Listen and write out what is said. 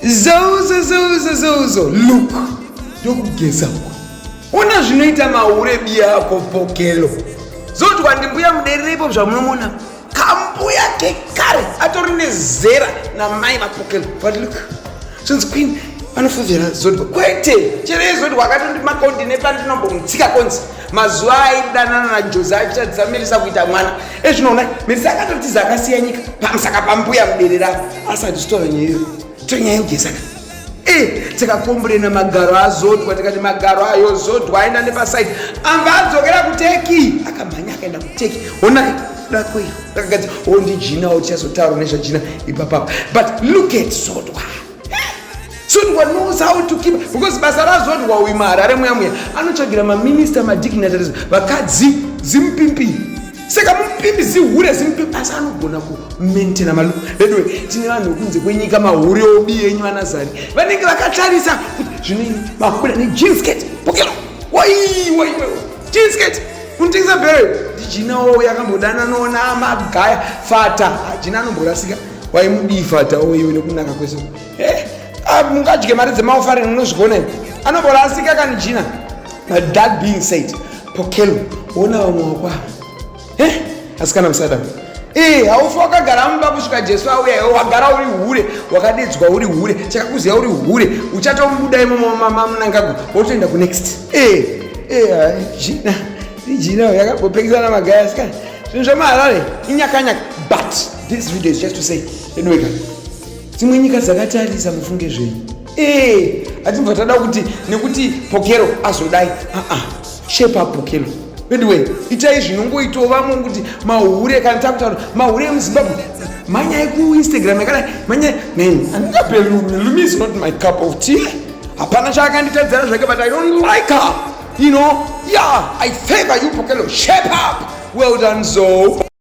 zouzo zouzo zouzo luk ndokugeza uko ona zvinoita mahure biya ako pokelo zotwa ndimbuya mudererepo zvamunomona kambuya kekare atori nezera namai vapokelo but luk zvinzi queen anofuvira zodwa kwete chero yezodwa akatondi makondi nepandinombomtsika konzi mazuva aidanana najozi achitatidza mirisa kuita mwana ezvinoona eh, merisa akatotiza akasiya nyika pamusaka pambuya muberera asati zvitora nyaya iyo tonyaya ugesaka e eh, tikakomburena magaro azodwa tikati magaro ayo zodwa aenda nepasaidi amba adzokera kuteki akamhanya akaenda kuteki honai dako iyo rakagadzira ondijinawo tichazotaura nezvajina ipapapa but look at zodwa Sundwa knows how to keep because basa razodwa uyu maharare muya muya anotsvagira maminista madignitaries vakadzi zimupimpi saka mupimpi zihure zimupimpi asi anogona kumentena malu veduwe tine vanhu vekunze kwenyika mahure obi enyu vanazari vanenge vakatarisa kuti zvinoini mahuda nejinsket pokero waiwaiwa jinsket unotengesa bere ndijinawo yakambodananona magaya fata hajina anomborasika waimudii fata uyu nekunaka kwese eh, ah, mungadye mari dzemaofaring munozvigona ivo anobora asika kani jina but that being said pokelo wona vamwe wakwa eh, asikana musadam eh, haufi wakagara mumba kusvika jesu auya iwe wagara uri hure wakadidzwa uri hure chakakuziva uri hure uchatomubuda imomamunangago wotoenda kunext eh, eh, ah, jina ijina yakambopekisana magaya asikana zvinhu zvomaharare inyakanyaka but This video is just to say anyway dzimwe nyika dzakatarisa mufunge zvenyu ee hatibva tada kuti nekuti pokero azodai aa shepa pokero veduwe itai zvinongoitawo vamwe kuti mahure kana takutaura mahure emuzimbabwe manyai kuinstagram yakadai manyai neni andikape lumi is not my cup of tea hapana chaakanditadzira zvake but i don't like her you know yeah i favor you pokero shape up well done zoo